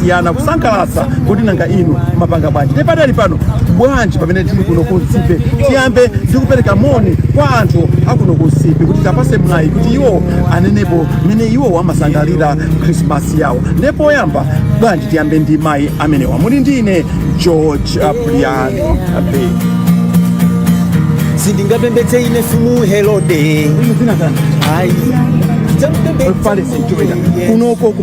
siyana kusangalatsa kodi nanga inu mapanga bwanji ndiye padali pano bwanji pamene tili kuno ku nsipe tiyambe ndi kupereka moni kwa anthu akuno ku nsipe kuti tiwapatse mwayi kuti iwo anenepo mmene iwo amasangalira krismasi yawo ndiye poyamba bwanji tiyambe ndi mayi amenewa muli ndi ine george abrian abe sindingapembedze ine mfumu herode zina zana ayi Palestine, Jordan. Kunoko ku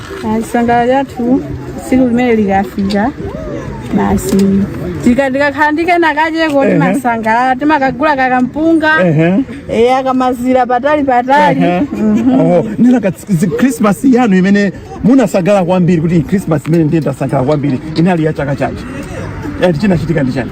Chisangalalo chathu tsiku limene likafika basi tika- tikakhala ndi kena kacheko timasangalala timakagula kakampunga eya akamazira patali patali Oh, nanga Christmas yanu imene munasangalala kwambiri kuti Christmas imeneyi ndiye ndasangalala kwambiri inali ya chaka chanji. Yati chinachitika ndi chani?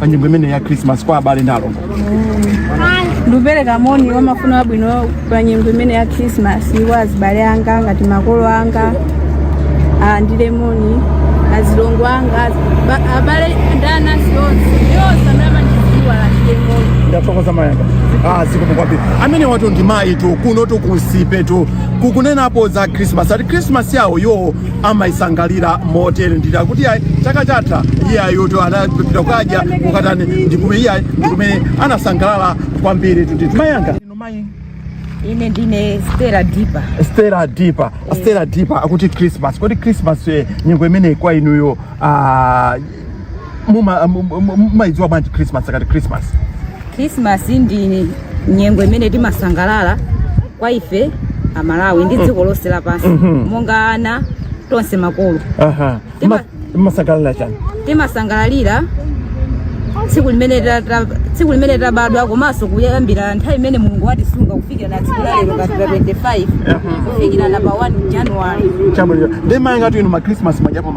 pa nyengo imene ya Christmas kwa abale ndi alongo. Ndikupereka moni wa mafuno abwino pa nyengo imene ya Christmas kwa azibale anga ngati makolo anga alandire moni azilongo anga ba- abale ndi anansi onse ndi onse amene amandidziwa alandire moni. Ndathokoza mayanga. Ah, zikomo kwambiri. Amenewatu ndi mayitu kunotu ku nsipetu kukunenapo za Christmas. Ati Christmas yawoyo amaisangalira motere ndithu akuti ayi chaka chatha iyeyotu anapita kukadya kukatani ndikume iye ayi ndikumene anasangalala kwambiritu ndithu mayanga inu mayi ine ndine stela dipa stela dipa stela dipa akuti christmas kodi christmas eh, nyengo imeneyi kwa inuyo ah, muma- mu- mu- mu- mumayidziwa bwanji christmas akati christmas khrisimasi ndi nyengo imene timasangalala kwa ife amalawi ndi dziko lonse lapansi monga ana tonse makolo aha Tima- Ma- mumasangalala chani timasangalalira tsiku limene ta- ta- tsiku limene tabadwa komanso kuyambira nthawi imene mulungu watisunga kufikira na tsiku lalero pa 25 kufikira na pa 1 januwari chabwino ndiye mayi angatu inu ma christmas mwadyapo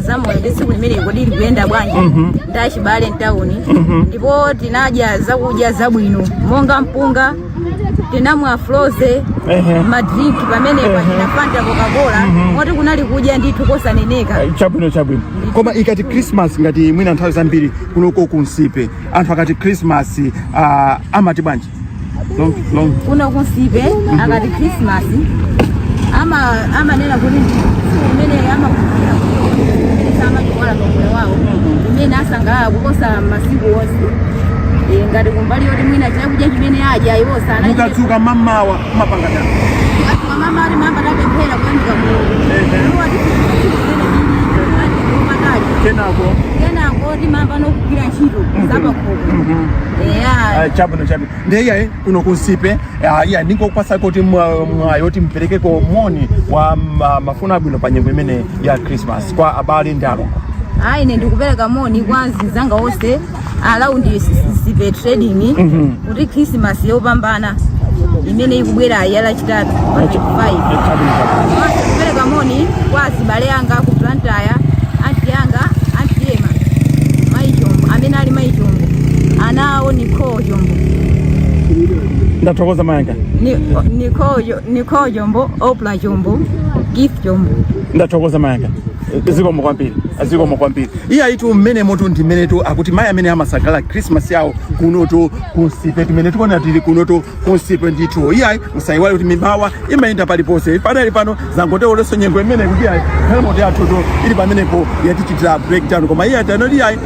za moyo ndi tsiku limeneli kodi likuyenda bwanji ndi achibale mtawuni ndipo tinadya zakudya zabwino monga mpunga tinamwa frozy Ehe. madrink pamenepa achina fanta coca-cola moti kunali kudya ndithu kosaneneka chabwino chabwino koma ikati christmas ngati mwina nthawi zambiri kunoko kunsipe anthu akati christmas uh, amati bwanji kuno kunsipe akati christmas ama- amanena kuti tsiku limene amakumbukira kuti amachiwala pamoyo wawo umene asangalala kuposa masiku onse Eh, ngati kumbali yoti mwina chakudya chimene adya iwo sanaa mukadzuka mamawa mapanga chani mamawa timayamba tapemphera kuyamika mulungu Ehe. Iwo ati, "Tsiku limene lili, ati, lopakali." kenako kenako timayamba nokugwira ntchito zapakhomo eya chabwino chabwino ndiye iyayi kuno ku Nsipe iya ndingokupatsa kuti mwa- mwayi woti mperekeko moni wa ma- mafuno abwino pa nyengo imene ya christmas kwa abale ndi alongo ayi ine ndikupereka moni kwa azinzanga onse around Nsipe trading kuti khrisimasi yopambana imene ikubwerayi ya lachitatu pa 25 kupereka moni kwa azibale anga ku Blantyre anti anga anti ema mayi chombo amene ali mayi chombo ana awo Nicole chombo ndathokoza mayanga Ni- Nicole Jo- Nicole chombo opla chombo gift chombo ndathokoza mayanga zikomo kwambiri zikomo kwambiri iye ayitu mmenemotu ndi mmenetu akuti mayi amene amasangalala christmas yawo kunotu ku Nsipe kumene tikuona tili kunotu ku Nsipe ndithu iyayi musayiwale kuti mibawa imayenda paliponse patali pano zangotero leronso nyengo imene kuti iyayi galimoto yathutu ili pamenepo yatichitira breakdown koma iyayi tanoti iyayi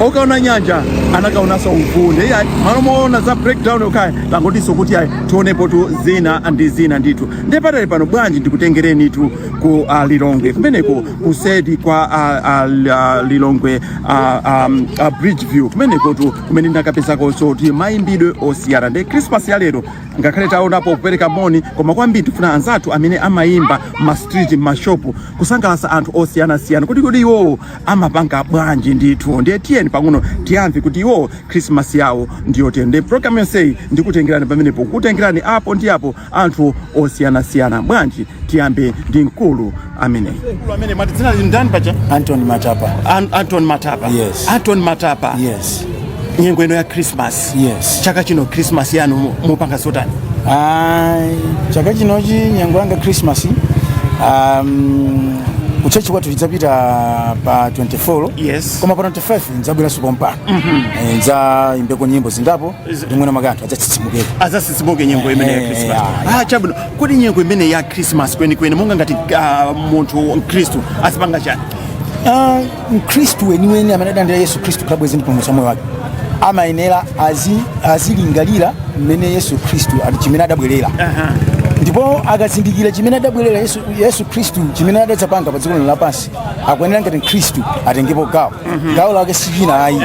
okaona nyanja anakaonanso uvunde iyayi mmalo moona za breakdown yokhayi tangotinso kuti iyayi tionepotu zina ndi zina ndithu ndiye patali pano bwanji ndikutengerenitu ku ah, lilongwe kumeneko kuseri kwa a, a, a, lilongwe a, a, a bridge view kumenekotu kumene ndinakapezakonso kuti mayimbidwe osiyana ndi krismas ya lero ngakhale taonapo kupereka moni koma kwambiri tifuna anzathu amene amayimba m'mastreet m'mashopu kusangalatsa anthu osiyanasiyana kuti kuti iwowo amapanga bwanji ndithu ndiye tiyeni pang'ono tiyamve kuti iwowo krismas yawo ndiyotani ndiye programu yonseyi ndikutengerani pamenepo kukutengerani apo ndi apo anthu osiyanasiyana bwanji tiyambe ndi mkulu ameneyi mkulu amene mumati dzina lija ndani paja Anton Matapa. An anton matapa Yes. anton matapa Yes. nyengo ino ya christmas Yes. chaka chino christmas yanu mu- mupanga zotani Ai, chaka chinochi nyengo yanga Christmas. Um, kuchechi kwathu tidzapita pa 24 Yes. koma pa 25 ndzabweranso pompano mm -hmm. ndzayimbeko nyimbo zingapo ndi mwina mwake anthu adzatsitsimukeko adzatsitsimuke nyengo imene ya Eh, krismas ah, ah, chabwino kodi nyengo imene ya krismas kwenikweni monga ngati ah, munthu mkhristu azipanga chani Ah, mkhristu weniweni amene adalandira yesu khristu kukhala bwenzi ndi mpulumutsi wa moyo wake amayenera azi- azilingalira mmene yesu khristu ali- chimene adabwerera ndipo akazindikira chimene adabwerera yesu, yesu khristu chimene adadzapanga pa dziko lino lapansi akuyenera ngati mkhristu atengepo gawo gawo lake sichina ayi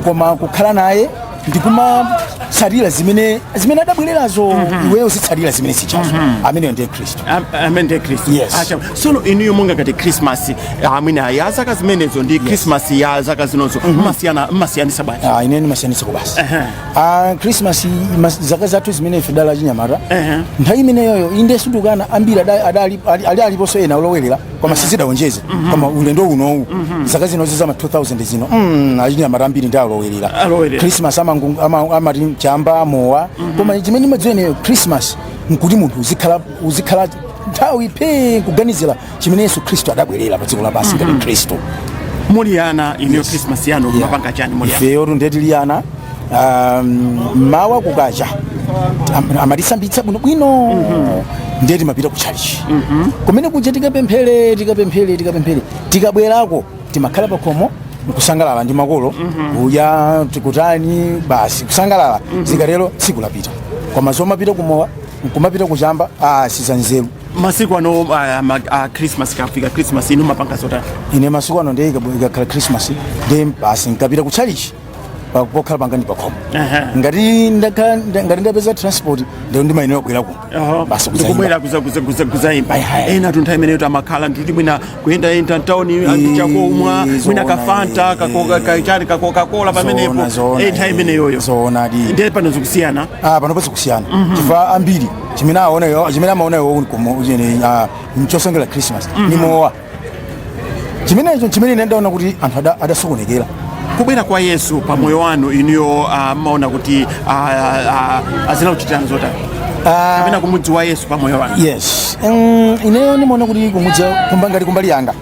koma kukhala naye ndikumatsatira zimene zimene adabwererazo mhm. iweyo uzitsatira zimene sichazo mhm. ameneyo ndiye khristu amene ndiye khristu yes acha sono inuyo monga ngati christmas ah, amene ya zaka zimenezo ndi christmas ya zaka zinozo mhm. mmasiyana mmasiyanitsa bwanji ah ine nimasiyanitsako basi ah christmas zaka zathu zimene ife tidali achinyamata nthawi imeneyoyo inde sindukana ambiri adali ali aliponso ena olowelera koma sizidaonjeze koma ulendo unowu zaka zinozi zama 2000 zino mm, achinyamata ambiri ndi olowerera Alowerera. christmas amangu- ama- amati chamba mowa koma chimene mmadziwa ineyo christmas nkuti munthu uzikhala uzikhala nthawi phee kuganizira chimene yesu khristu adabwerera pa dziko lapansi ngati khristu muli ana inuyo christmas yanu mumapanga chani muli ana ifeyo tu nde tili ana mmawa um, kukacha am- amatisambitsa bwino bwino ndiye timapita ku chalichi kumene kuja tikapemphere tikapemphere tikapemphere tikabwerako timakhala pakhomo nkusangalala ndi makolo uyu tikutani basi kusangalala zikatero tsiku lapita koma zomapita kumowa nkumapita kuchamba ah, sizanzeru masiku ano uh, ma, uh, christmas ikafika christmas inu mmapanga zotani ine masiku ano ndiye ikakhala christmas ndiye basi nkapita ku chalichi pa- pokhala panga ni pakhomo Aha. ngati ndakhala nda- ngati ndapeza transport ndeno ndimayenera kubwera kuno basi ndikubwera kuzaimba Ayi, ayi. enatu nthawi imeneyo amakhala ndikuti mwina kuyendayenda mtawuni ndi chakumwa mwina zoona, kafanta eh, kakoka- kachani kakokakola pamenepo Zoona, zoona, nthawi eh, imeneyoyo zoonadi ndiye pano zikusiyana ah pano pali kusiyana chifukwa ambiri chimene aonayo chimene amaonayo kuti chosonyeza christmas ni mowa chimenecho chimene ine ndaona kuti anthu ada- adasokonekera kubwera kwa yesu pa moyo wanu inuyo ah, mmaona kuti ah, ah, ah, zinakuchitirani zotani Ah, kapena kumudziwa yesu pa moyo wanu yes Mm, ineyo ndimaona kuti kumudziwa kumba- ngati kumbali yanga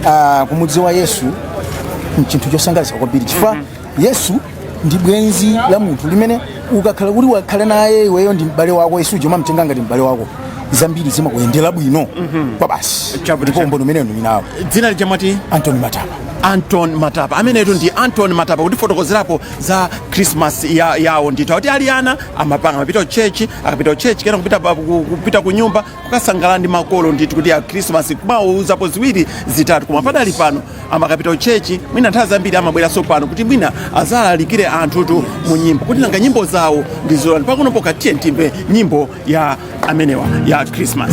Ah, kumudziwa yesu nchinthu chosangalatsa kwambiri chifukwa yesu ndi bwenzi la munthu limene ukakhala kuti wakhala naye iweyo ndi m'bale wako yesu uja umamtenga ngati m'bale wako zambiri zimakuyendera bwino kwabasi Chabwino, ndipo umboni umenewo ndi nawo dzina lija mwati anton matapa anton matapa amenetu ndi anton matapa kutifotokozerapo za christmas ya, yawo ndithu akuti ali ana amapanga amapita kuchechi akapita kuchechi kena kupita, pa- ku- kupita ku nyumba kukasangalala ndi makolo ndithu kuti akrisimasi kumawauzapo ziwiri zitatu koma padali pano amakapita kuchechi mwina nthawi zambiri amabweranso pano kuti mwina azalalikire anthutu mu nyimbo kuti nanga nyimbo zawo ndi zotani pakunopo katiyeni timve nyimbo ya amenewa ya krismas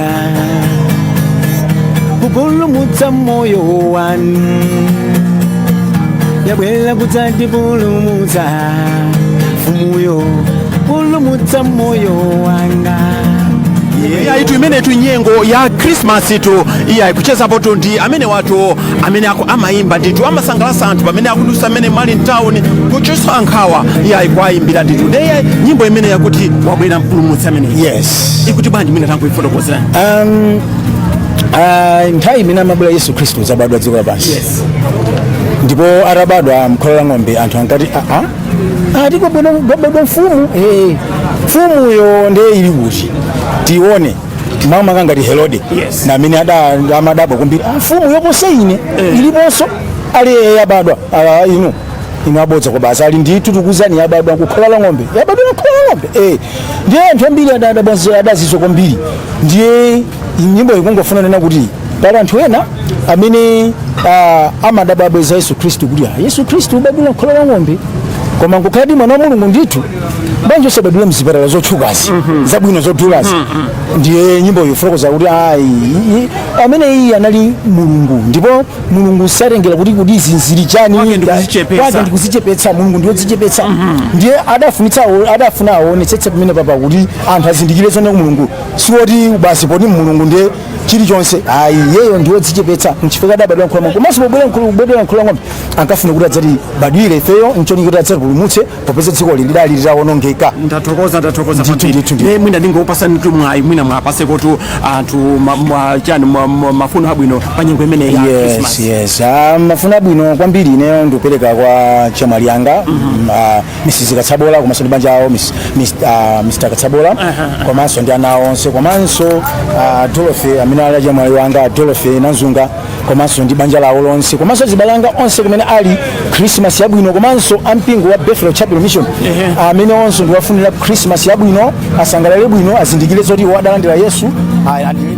kupulumutsa moyo wanu wabwera kudzatipulumutsa mfumuyo pulumutsa moyo wanga iyayitu imenetu nyengo ya krismasitu iyayi kuchezapotu ndi amenewatu amene ako amayimba ndithu amasangalatsa anthu pamene akudusa amene ali mtawuni kuchotsa nkhawa iyayi kwayimbira ndithu nde iyayi nyimbo imene yakuti wabwera mpulumutsi amene yes ikuti bwanji mwina tangoifotokozerani um, uh, nthawi imene amabwera yesu khristu kudzabadwa dziko lapansi yes ndipo atabadwa mkhola la ng'ombe anthu ankati aa ati kwabadwa kwabadwa mfumu Eh, mfumuyo ndiye ili kuti tione mwina kangati herode Yes. ndi amene ada- amadabwa kwambiri "Ah, mfumu yoposa ine iliponso ati yabadwa Ah, inu inu abodza basi ali ndithu tikuuzani yabadwa kukhola la ng'ombe yabadwa kukhola la ng'ombe eh ndiye anthu ambiri ada- adabwanzi- adazizwa kwambiri ndiye nyimbo ikungofuna kunena kuti pali anthu ena amene ah, amadabwa kubwera kwa yesu khristu kuti ah, yesu khristu kubadwira kukhola la ng'ombe koma nkukhaladi mwana wa mulungu ndithu bwanji osabadwira mzipatala zotchukazi zabwino zodulazi ndiye nyimbo ikufotokoza kuti ayi ameneyu anali mulungu ndipo mulungu satengera kuti kuti izi zili chani Kwake ndi kudzichepetsa. kwake ndi kudzichepetsa mulungu ndi wodzichepetsa ndiye adafunitsa awo- adafuna aonetsetse pamenepapa kuti anthu azindikire zoona kuti mulungu siwoti basi poti mulungu ndiye chilichonse ayi iyeyo ndi wodzichepetsa nchifukwa adabadwira mkhola mwa komanso pobadwira mkhola la ng'ombe ankafuna kuti adzatibadwire ifeyo ncholinga kuti adzatipulumutse popeza dzikoli lidali litawonongeka ndathokoza ndathokoza Ndithu, kwambiri. ndithu, ndithu. Eh, mwina ndingokupatsanitu mwayi mwina muwapatsekotu anthu ma- ma- chani ma- ma- mafuno abwino pa nyengo imeneyi ya yes Christmas. yes Ah, mafuno abwino kwambiri ineyo ndikupereka kwa achemwali anga mm, ah, mrs katsabola komanso ndi banja awo Miss- Miss- ah, mr katsabola komanso ndi ana awo onse komanso ah, dorothy amene ali achemwali anga dorothy nanzunga komanso ndi banja lawo lonse komanso azibale anga onse kumene ali christmas yabwino komanso ampingo wa bethel chapel mission amene onse ndikuwafunira christmas yabwino asangalale bwino azindikire zoti iwo adalandira yesu Ayi, andi-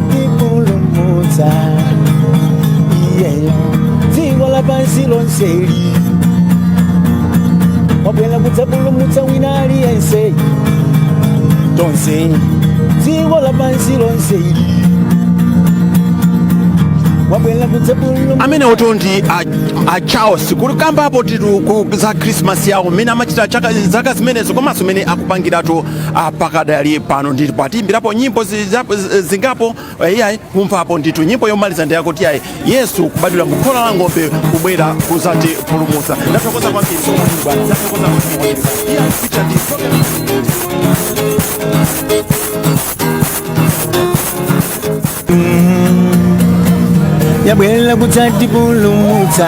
kudzatipulumutsa iyeyo dziko lapansi lonseli wabwera kudzapulumutsa wina aliyense tonse dziko lapansi lonseli wabwera kudzapulumutsa amenewotu ndi a, a charles kutikambirapotu ku- za krismasi yawo mmene amachita chaka- zaka zimenezo komanso mmene akupangiratu ah, pakadali pano ndipo atiimbirapo nyimbo zizapo- zingapo eh, iyayi kumvapo ndithu nyimbo yomaliza ndiyakuti iyayi yesu kubadwira mu khola la ng'ombe kubwera kudzatipulumutsa ndathokoza kwambiri bwana ndathokoza kwambiri iyayi kucha ndi yabwera kudzatipulumutsa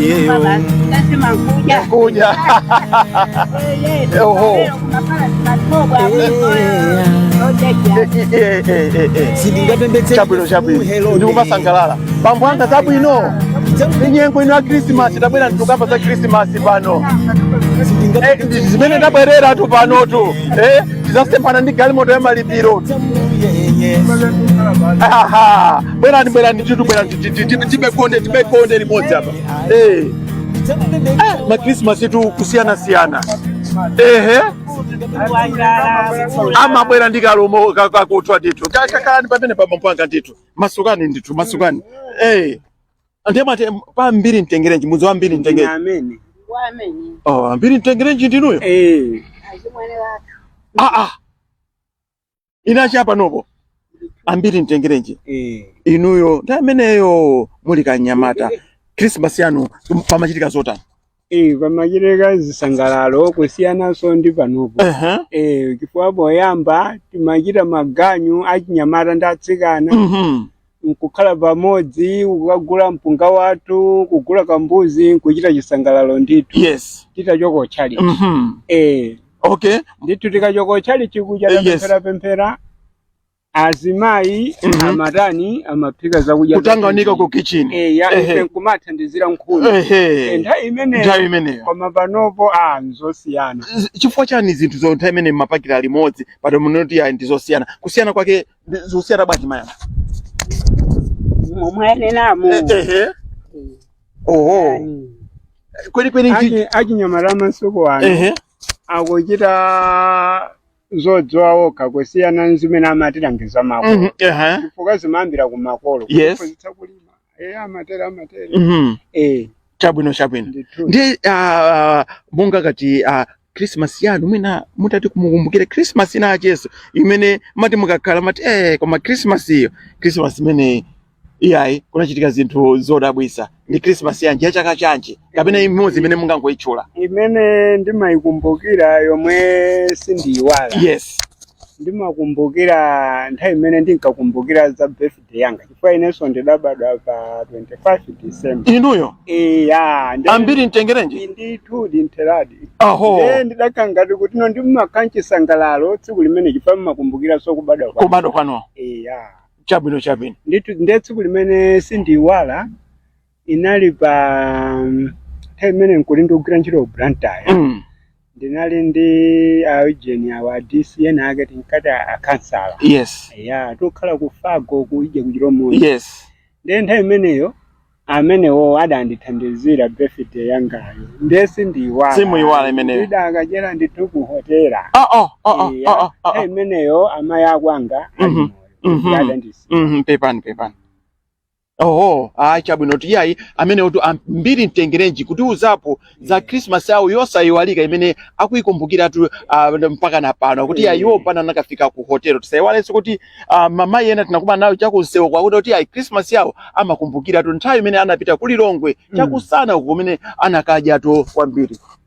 Yeye, um, Kuja. Oho. Eh, eh, eh, eh, eh. sindingapembedzere chabwino chabwino Hello, ndikumasangalala bambo anga zabwino nyengo ino ya khrisimasi tabwera tikukamba za khrisimasi pano Eh, ndi- zimene tabwereratu panotu eh, tizasemphana ndi galimoto ya maliro Ahaha. bwerani bwerani titu bwerani tikhale konde tikhale konde limodzi apa eh. eh, makrisimasitu kusiyana siyana ehe amabwera ndi kalumo kakuthwa ndithu kakhaleni pamene pampandopa ndithu masukani ndithu masukani eh. ndemati pambiri mtengerenji mudzi wambiri mtengerenji oh, ambiri mtengerenji ndinuyo eh. ah, ah. inachita panopo ambiri mtengerenji Eh. inuyo ndi ameneyo muli kanyamata krismasi yanu pamachitika zotani Eh, pamachitika zisangalalo kusiyananso ndi panopo Ehe. Eh, chifukwa poyamba timachita maganyu achinyamata ndi atsikana Mhm. nkukhala pamodzi kukagula mpunga wathu kugula kambuzi nkuchita chisangalalo ndithu yes titachoka kutchalitchi mhm eh okay ndithu tikachoka kutchalitchi kuja Eh, yes. tapemphera pemphera azimayi Mhm. amatani amaphika zakudya kutanganika ku kitchen eh ya Ehe. ife nkumathandizira nkhuni Eh, ehe nthawi imeneyo nthawi imeneyo koma panopo a nzosiyana Z- chifukwa chani zinthu zo nthawi imene mmaphikira limodzi pano mukuti ayi ndizosiyana kusiyana kwake zosiyana bwanji mmene mwanenamu ehe oho kweli kweli ichi achinyamata masiku ano ehe akuchita zodziwa okha kusiyana nzimene amatilangiza makolo Mhm, ehe chifukwa zimayambira ku makolo Yes. kuphunzitsa kulima eya amatero amatero Mhm. eh chabwino chabwino ndithu ndiye ah, monga ngati ah, christmas yanu mwina mutati mukumbukire christmas ina yakenso imene mati mukakhala mati eh koma christmas iyo christmas imene ija ayi kunachitika zinthu zodabwisa ndi christmas yanji ya chaka chanji kapena imodzi imene mungangoyitchula imene ndimayikumbukira yomwe sindiyiwala yes ndimakumbukira nthawi imene ndinkakumbukira za birth birthday yanga chifukwa inenso ndidabadwa pa 25 December inuyo iya ndi- ambiri mtengerenji ndithu ndithudi aho Eh, ndidakhala ngati kuti no ndimakhala nchisangalalo tsiku limene chifukwa mmakumbukiranso kubadwa kwa kubadwa kwanu iya chabwino chabwino ndithu ndiye tsiku limene sindiiwala inali pa mm, nthawi imene nkuti ndikugwira ntchito ku blantyre Mm. ndinali ndi aujeni awo a dcn ake tinkati akhansala yes ya tokhala ku Fargo kuja ku Chilomo yes ndiye nthawi imeneyo amenewo adandithandizira birthday yangayo ndiye sindiyiwala Simuyiwala imeneyo. ndidakachera ndithu ku hotela ah, ah, ah, ah, Iya, ah, ah, ah. nthawi imeneyo amayi akwanga ali Mhm, moyo mhm. adandisiya Mhm, pepani pepani oho ah, chabwino iyayi amenewotu a Mbiri mtengerenji kutiuzapo za christmas yawo yosayiwalika imene akuyikumbukiratu ah, mpaka na pano kuti ya iwo pana anakafika ku hotelo tisayiwalenso kuti ah, amayi ena tinakumana nawo chakumsewuko akuti kuti ayi christmas yawo amakumbukiratu nthawi imene anapita ku lilongwe chakumsana uko kumene anakadyatu kwambiri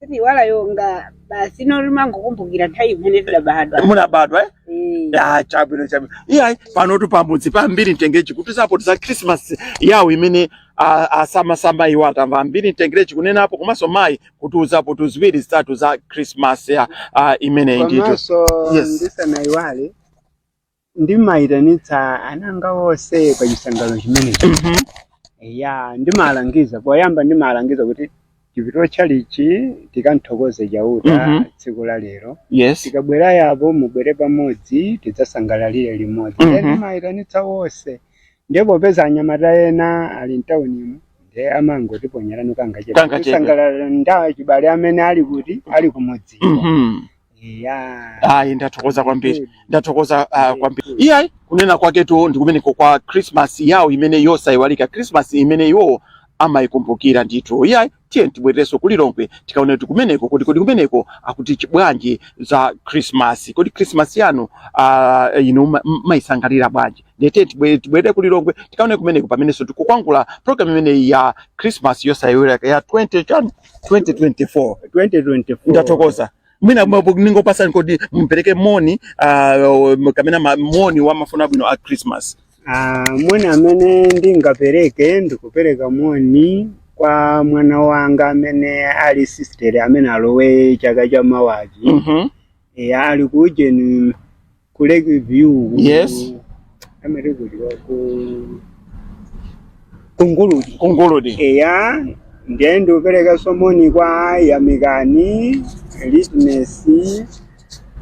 simuyiwala yonga basi ino limangokumbukira nthawi imene tidabadwa munabadwa eh? Eh, Ah, chabwino chabwino iyayi panotu pamudzi pa Mbiri Mtengerenji kutiuzapo za christmas yawo imene ah, asamasamba iwo atamva a Mbiri Mtengerenji kunenapo komanso mayi kutiuzapo tuziwiri zitatu za christmas ya ah, imeneyi ndithu komanso Yes. ndisanayiwale ndimayitanitsa ana anga onse pa chisangalalo chimenechi Mhm. ya ndimalangiza poyamba ndimalangiza kuti tipite kutchalitchi tikanthokoze chauta Mhm. tsiku la lero yes tikabwerayapo mubwere pamodzi tidzasangalalire limodzi Mhm. nde ndimayitanitsa onse ndiye popeza anyamata ena ali mtaunimu ndiye amangotiponyerano Kangachepe. kangachepe kusangalala ndi achibale amene ali kuti ali kumudzi Mhm. Yeah. Ayi, ndathokoza kwambiri, ndathokoza uh, kwambiri. Iyayi, kunena kwaketu ndi kumeneko kwa Christmas yawo imene yosaiwalika, Christmas imene iwo amayikumbukira ndithu. Iyayi, tiyeni tibwererenso ku Lilongwe tikaone kuti kumeneko kodi kodi kumeneko akuti chi bwanji za Christmas. Kodi Christmas yanu uh, inu ma- m- mumayisangalalira bwanji? Ndiye tiye tibwe- tibwerere ku Lilongwe tikaone kumeneko pamenenso tikukwangwanula program imeneyi ya Christmas yosaiwalika ya 20 chani 2024 2024 ndathokoza mwina mabu- ningokupatsani kuti mumpereke moni uh, kapena ma- moni wa mafuno abwino a christmas Ah, moni amene ndingapereke ndikupereka moni kwa mwana wanga amene ali sister amene alowe chaka cha mawachi Mhm. e, ali ku ujeni ku Lake View ku- Yes. amati kuti wa ku ku Nguludi ku Nguludi eya ndiye ndikuperekanso moni kwa yamikani litness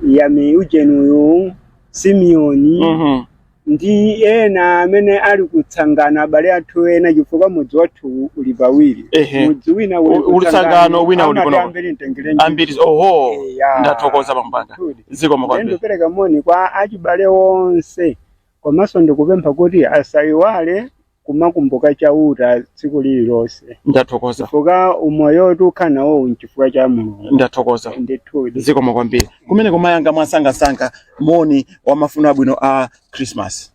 yami ujeniyu simeoni Mhm. ndi ena amene ali kutsangana abale athu ena chifukwa mudzi wathu uli pawiri Ehe. mudzi wina U- uli tsangano, wina uli kuno. kwa Mbiri Mtengerenji a Mbiri oho Eya. ndathokoza pampanda Ndithudi. zikomo kwambiri ndikupereka moni kwa achibale onse komanso ndikupempha kuti asayiwale kumakumbuka chauta tsiku lililonse ndathokoza chifukwa umoyo woti ukhala nawo nchifukwa cha mulungu ndathokoza ndithudi zikomo kwambiri kumene kumayanga mwasangasanga moni wa mafuno abwino a christmas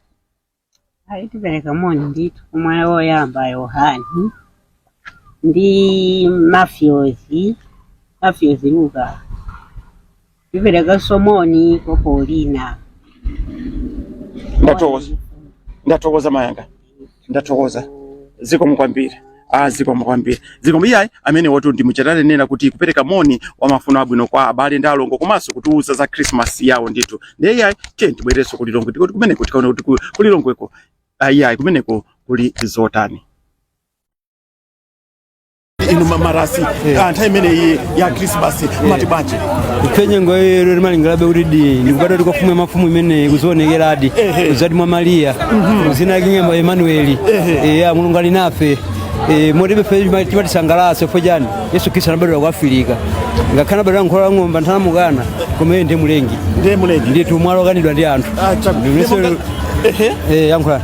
Ayi tipereka moni ndithu kumwana woyamba Yohani ndi mafyozi mafyozi Luka tiperekaso moni kwa Paulina Ndathokoza. Ndathokoza mayanga. Ndathokoza. Zikomo kwambiri. Ah, zikomo kwambiri zikomo iyayi amene wotu ndi mwachita kunena kuti kupereka moni wa mafuno abwino kwa abale ndi alongo komanso kutiwuza za Christmas yawo ndithu ndiye iyayi tiyeni tibwererenso ku Lilongwe tikuti kumeneko tikaona kuti ku- ku Lilongweko ah, iyayi kumeneko kuli zotani inu marasi nthawi imeneyi ya krismasi matibwanji ife nyengo yalero timalingalirabe kutidi ndi kubadwadi kwa mfumu ya mafumu imene inazaonekeradi kuzadi mwa mariya dzina lake nkukhala emanueli eya mulungu ali nafe Eh, moti ibe ife chimatisangalatsa ifeyo nchani yesu khristu anabadwira ku afirika ngakhale anabadwira mkhola la ng'ombe anthu anamukana koma iye ndiye mlengi ndiye mlengi ndithu mwala okanidwa ndi anthu Ah, chabu- Ndimeso- Ehe. Eh, yankhulani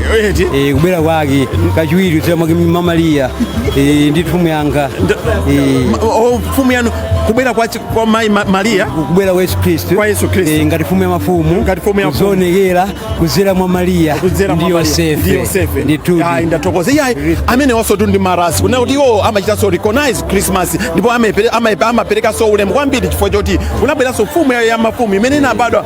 eti Eh, kubwera kwake kachiwiri kudzera mwake mwa mariya Eh, ndi mfumu yanga Eh, Ma- o- mfumu yanu kubwera kwa, chi- kwa mayi Ma- mariya kubwera kwa yesu khristu Kwa Yesu Khristu. Eh, ngati mfumu ya mafumu Ngati mfumu ya mafumu. kudzionekera kudzera mwa mariya kudzera ndi mwa Mariya, ndi yosefe yosefe ndithudi Ayi, ndathokoza iyayi amene awonsotu ndi marasi kunena kuti iwo amachitanso recognize christmas ndipo amepere- amayepa- amaperekanso ulemu kwambiri chifukwa choti kunabweranso mfumu ya ya mafumu imene inabadwa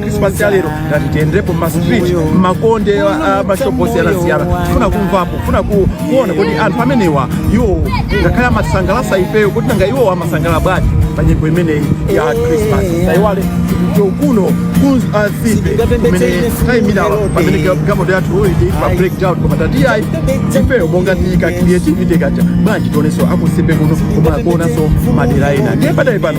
Christmas ya lero tinati tiyenderepo ma street mmakonde a mashopu osiyanasiyana kufuna kumvapo kufuna ku- kuona kuti anthu amenewa iwo ngakhale amatisangalatsa ifeyo kuti nanga iwo amasangalala bwanji pa nyengo imeneyi ya Christmas tayiwale kuno ku Msimbe kumene tayimira pamene galimoto yathu ili pa breakdown koma tati ayi ifeyo monga taika creativity kaja bwanji tionenso aku Msimbe kuno komanso kuonanso madera ena ndiye pakadali pano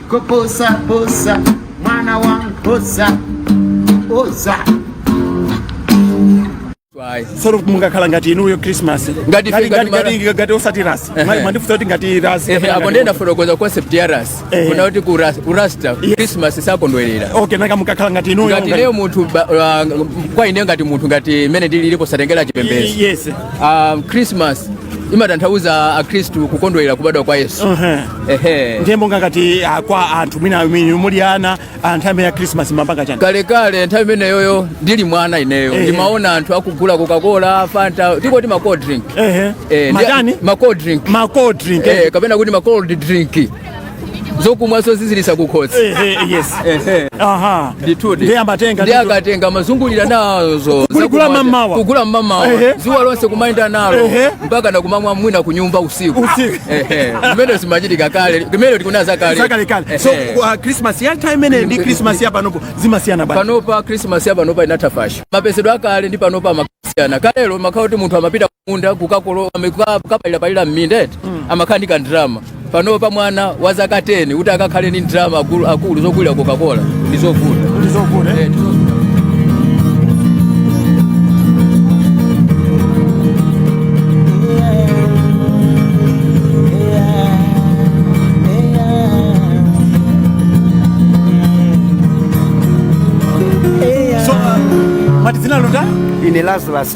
Koposa posa mwana wa nkhosa odzatisowo mukakhala ngati inuyo christmas Ngati ife- ngati mara- ngati osati rasi Ehe. mwandifunsa kuti ngati rasi Ehe, apo nde ndafotokoza concept ya ras Ehe. kunena kuti ku ras- ku rasta christmas sakondwerera okay nanga mukakhala ngati inuyo ngati leo munthu ba- wa- kwa ine ngati munthu ngati mene ndililipo osatengera chipembedzo yes Ah, christmas imatanthauza akhristu kukondwerera kubadwa kwa yesu Ehe. ehe ndiye monga ngati ah, kwa anthu mwina amene muli ana ah, nthawi imene ya krismasi mumapanga chani kalekale nthawi imeneyoyo ndili mwana ineyo Ehe. ndimaona anthu akugula coca-cola fanta tinkati ma cold drink Ehe. Eh, ndi- Matani? ma cold drink ma cold drink eh. Eh, kapena kuti ma cold drink zokumwa zoziziritsa kukhosi ndiye akatenga amazungulira nazo kugula mamawa kugula mamawa zuwa lonse kumayenda nalo mpaka nkumamwa mwina kunyumba usiku mmene zimachitika kale mmene tikunena zakale so christmas ya time imeneyo ndi christmas ya panopo zikusiyana bwanji panopa christmas ya panopa inatha fasho mapezedwe akale ndi panopa akusiyana kalelo zimakhala kuti munthu amapita kumunda kukakolola kuka- kukapalirapalira m'minda eti amakhala ndi kandirama pano pa mwana wa zaka 10 kuti akakhale ndi ndirama akulu- akulu zogulira coca-cola ndi zovuta ndizovuta Eh, ndi zovuta. so uh, mwati dzina lanu ndani ine lazarus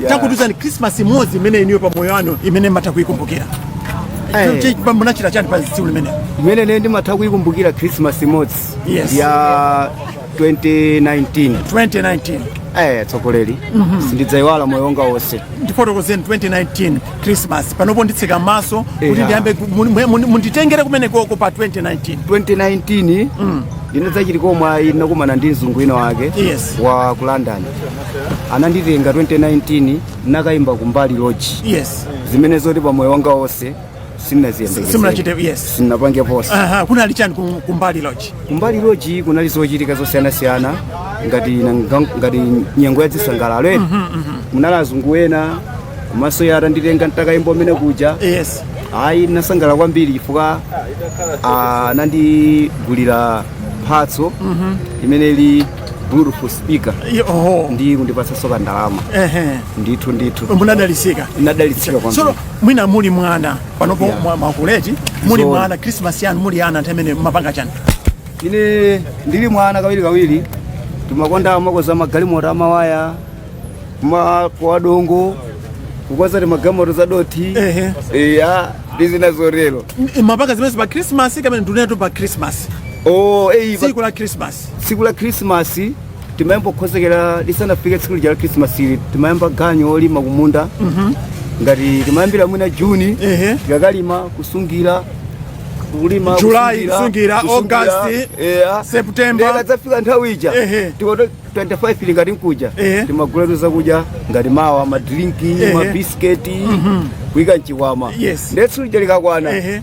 Yeah. Tatiuzani Christmas imodzi imene inuyo pa moyo wanu imene mumatha kuikumbukira. Hey. Mwina munachita chani pa tsiku limenelo? Imene ine ndimatha kuikumbukira Christmas imodzi. Yes. Ya 2019. 2019. Eh, tsogoleri. Mm -hmm. Sindidzaiwala moyo wanga wonse. Ndifotokozeni 2019 Christmas. Panopo nditseka maso yeah. kuti ndiyambe munditengere kumeneko pa 2019. 2019. Mm. Ndinadzachita komwe ayi ndinakumana ndi mzungu wina wake yes. wa ku London. ananditenga 2019 ndinakayimba kumbali lodge yes zimene zoti pa moyo wanga wonse simunachite simunaziyembekezera yes sindinapangepo aha kunali chani ku- kumbali lodge kumbali loji kunali zochitika zosiyanasiyana ngati nanga- ngati nyengo ya zisangalalo eya munali azungu ena komanso iye atanditenga ntakayimba kumene kuja yes ayi ndinasangalala kwambiri chifukwa ah, anandigulira mphatso imene ili Bluetooth speaker Yo, oho. ndi kundipatsanso kandalama Ehe. ndithu ndithu munadalitsika ndinadalitsika kwambiri so mwina muli mwana panopo Yeah. mwakula eti muli Zoona. mwana krismas yanu muli ana nthawi imene mumapanga chani ine ndili mwana kawiri kawiri timakonda kumakonza magalimoto amawaya kumakumba dongo kukonza timagalimoto za dothi Ehe. eya ndi zina zotero M- mumapanga zimenezi pa krismas kapena ndikunenatu pa krismas o eyi tsiku la krismas tsiku la khrisimasi timayamba kukonzekera lisanafike tsiku lija la khrisimasi ili timayamba ganyu wolima kumunda ngati timayambira mwina juni Ehe. tikakalima kusungira kulima July, kusungira, August, eya. September. Ndiye ikadzafika nthawi ija Ehe. tikati 25 ili ngati nkuja Ehe. timagulatu zakudya ngati mawa madrinki Ehe. mabisiketi kuika mchikwama Yes. ndiye tsiku lija likakwana Ehe.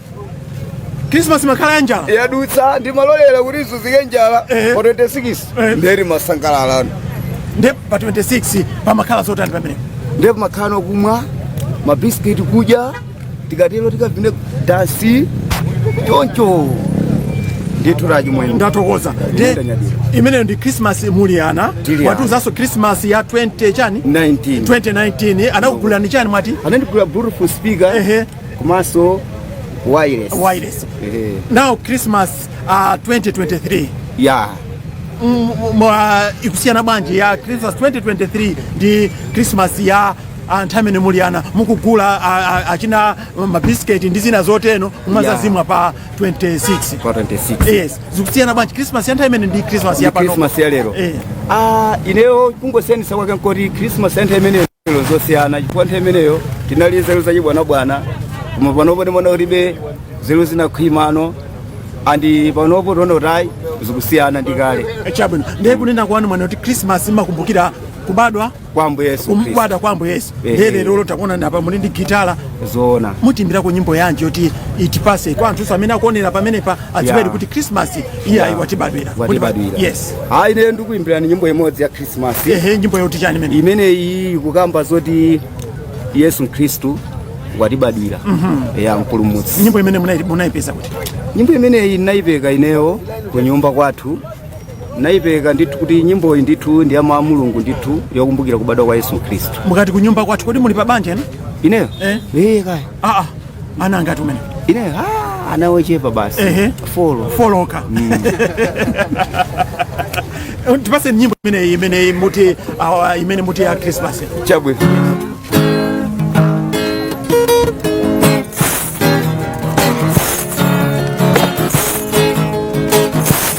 krismasi imakhala ya njala yadutsa ndimalolera kuti izunzike njala Ehe. pa 26 Ehe. ndiye timasangalalano nde pa 26 pamakhala zotani pamene ndi pomakhala kumwa mabisiketi kudya tikatero tikavine dansi choncho ndithu achimwene ndathokoza nde Ndanyadira. imeneyo ndi krismasi muli ana Tili ana. mwatiuzanso krismasi ya 20 chani 19 2019 anakugulani chani mwati anandigula Bluetooth speaker Ehe. komanso wireless wireless Ehe. now christmas uh, 2023 ya Mm, mm, uh, ikusiyana bwanji ya christmas 2023 ndi christmas ya uh, nthawi imene muli ana mukugula uh, uh, achina mabisiketi ndi zina zoteno mumadzazimwa pa 26 kwa 26 yes zikusiyana bwanji christmas ya nthawi imene ndi christmas ya Ndi pano Christmas ya lero. Eh. ah ineyo kungosiyanisa kwake nkoti christmas ya nthawi imene Nzeru zosiyana chifukwa nthawi imeneyo tinali nzeru zachibwanabwana koma panopo ndimaona kutibe nzeru zinakhwimano andi panopo tiona kuti ayi zikusiyana ndi kale chabwino ndiye kunena kwanu mwanena kuti krismas imakumbukira kubadwa kwa ambuye yesu khristu kubadwa kwa ambuye yesu Ehe. ndiye lero takuonani apa muli ndi gitala zoona mutiimbirako nyimbo yanji yoti itipase kwa anthu amene akuonera pamenepa adziwedi Yeah. kuti krismasi iyi ayi watibadwira Kuti ba- watibadwira yes ayi ine ndikuimbirani nyimbo imodzi ya krismasi ehe nyimbo yoti chani imene imeneyi ikukamba zoti yesu khristu watibadwira ya mpulumutsi nyimbo imene munai- munaipeka kuti nyimbo imeneyi ndinayipeka ineyo ku nyumba kwathu ndinayipeka ndithu kuti nyimboyi ndithu ndi ya Yehova mulungu ndithu yokumbukira kubadwa kwa yesu khristu mukati kunyumba kwathu kodi muli pa banja ena ineyo Eh. ee kaya aa ana angati umene ine ah, ana ochepa basi Ehe. four four okay tipaseni nyimbo imeneyi imeneyi muti ah, imene muti ya krismasi chabwino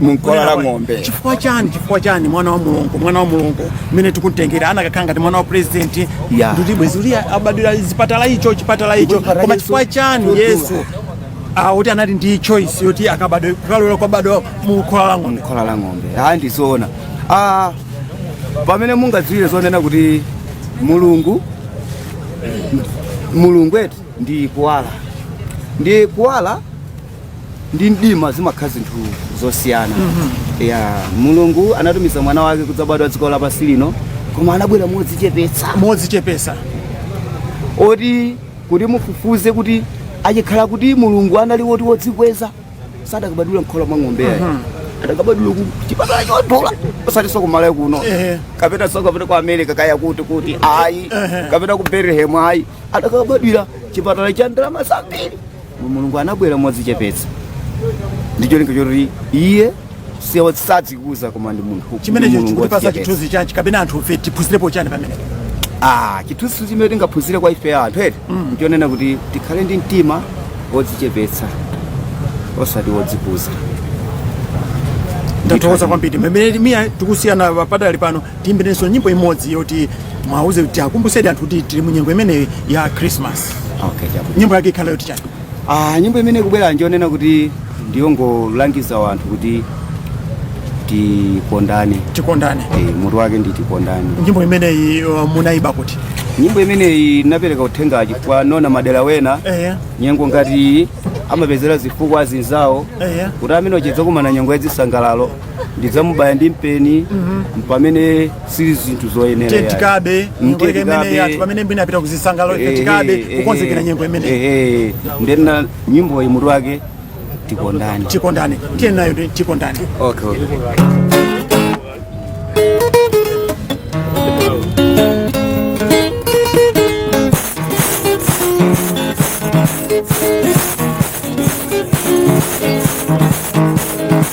mumkhola la ng'ombe chifukwa chani chifukwa chani mwana wa mulungu mwana wa mulungu mmene tikumutengera anakakhala ngati mwana wa president Yeah. kuti bwezi atabadwira chipatala icho chipatala icho Ndipo paradiso koma chifukwa chani chodula. yesu ah, kuti anali ndi choice yoti akabadwe koma kulolera kubadwa mumkhola la ng'ombe mumkhola la ng'ombe ayi ndizoona ah, pamene mungadziwire zoonena kuti mulungu mulungu eti ndi kuwala ndi kuwala ndi mdima zimakhala zinthu zosiyana ya mulungu anatumiza mwana wake kudzabadwa dziko lapansi lino koma anabwera modzichepetsa modzichepesa oti kuti mufufuze kuti achikhala kuti mulungu anali woti wodzikweza sadakabadwira mkhola mwa ng'ombe yayi adakabadwira ku chipatala chodula osati zaku Malawi kuno Ehe. kapena zokapita ku america kaya kuti kuti ayi kapena ku bethlehem ayi adakabadwira chipatala cha ndalama zambiri Mulungu anabwera modzichepetsa ndi cholinga choti iye si osadzikuza koma ndi munthu wodzichepetsa chimenecho Mulungu chikutipasa chithunzi chanji kapena anthu fe tiphunzirepo chani pamene Ah, chithunzi chimene tingaphunzire kwa ife anthu eti nchonena kuti tikhale ndi mtima wodzichepetsa osati wodzikuza ndathokoza kwambiri mmene miya tikusiyana padali pano Tiimbirenso nyimbo imodzi yoti mwauze kuti iwakumbusedi anthu kuti tili mu nyengo imeneyi ya Christmas. Okay, chabwino. Nyimbo yake ikhala yoti chani? Ah, nyimbo imene ikubwera njonena kuti ndiyongolangiza wanthu kuti tikondane Tikondane. Eh, mutu wake ndi tikondane Nyimbo imeneyi uh, munaiyimba kuti? nyimbo imeneyi inapereka uthenga chifukwa mmaona madera ena Ehe. nyengo ngati iyi amapezera zifukwa azinzawo Ehe. kuti amene uja tidzakumana nyengo yadzisangalalo ndidzamubaya ndi mpeni pamene sili zinthu zoyenera yayi. tentikaba nyengo yake Tentikaba. imene yathu pamene wina apita kuzisangalalo Ehe, tentikaba ehe, kukonzekera nyengo imene ehe. nde nyimboyi mutu wake tikondane tikondane tiye nayo ndi tikondane okay, okay.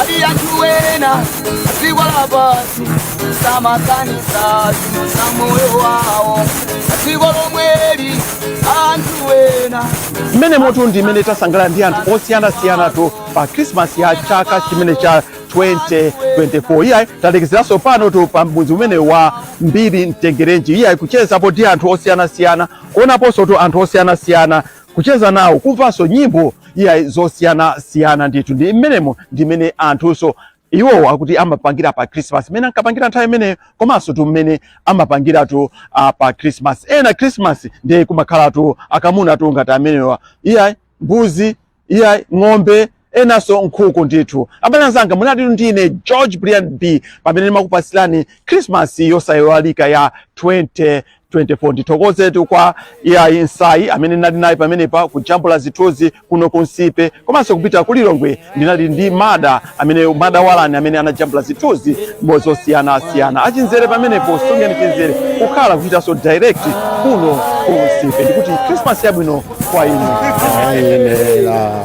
ali anthu wena asikwala pasi samakanisa za moyo wawo asiko lomweli anthu wena mmenemotu ndi mmene tasangalala ndi anthu osiyanasiyanatu pa krismasi ya chaka chimenechi cha 2024 iyayi talekezeranso panotu pa mudzi umenewu wa mbiri mtengerenji iyayi kuchezapo ndi anthu osiyanasiyana kuonaponsotu anthu osiyanasiyana kucheza nawo, kumvanso nyimbo iyayi zosiyanasiyana ndithu. Ndi mmenemo ndi mmene anthunso iwowo akuti amapangira pa Christmas mmene ankapangira nthawi imeneyo komansotu mmene amapangiratu uh, pa Christmas. Ena Christmas ndiye kumakhalatu akamunatu ngati amenewa, iyayi mbuzi, iyayi ng'ombe enanso nkhuku ndithu abale anzanga munalitu ndi ine george brian b pamene ndimakupatsirani christmas yosayiwalika ya 2024 ndithokozetu kwa iyayi nsayi amene ndinali naye pameneapa kujambula zithunzi kuno ku nsipe komanso kupita ku lilongwe ndinali ndi mada amene mada walani amene anajambula zithunzi zosiyanasiyana achinzere pamenepo sungeni chinzere kukhala kuchitanso direct kuno ku nsipe ndikuti christmas yabwino kwa inu Ayenera.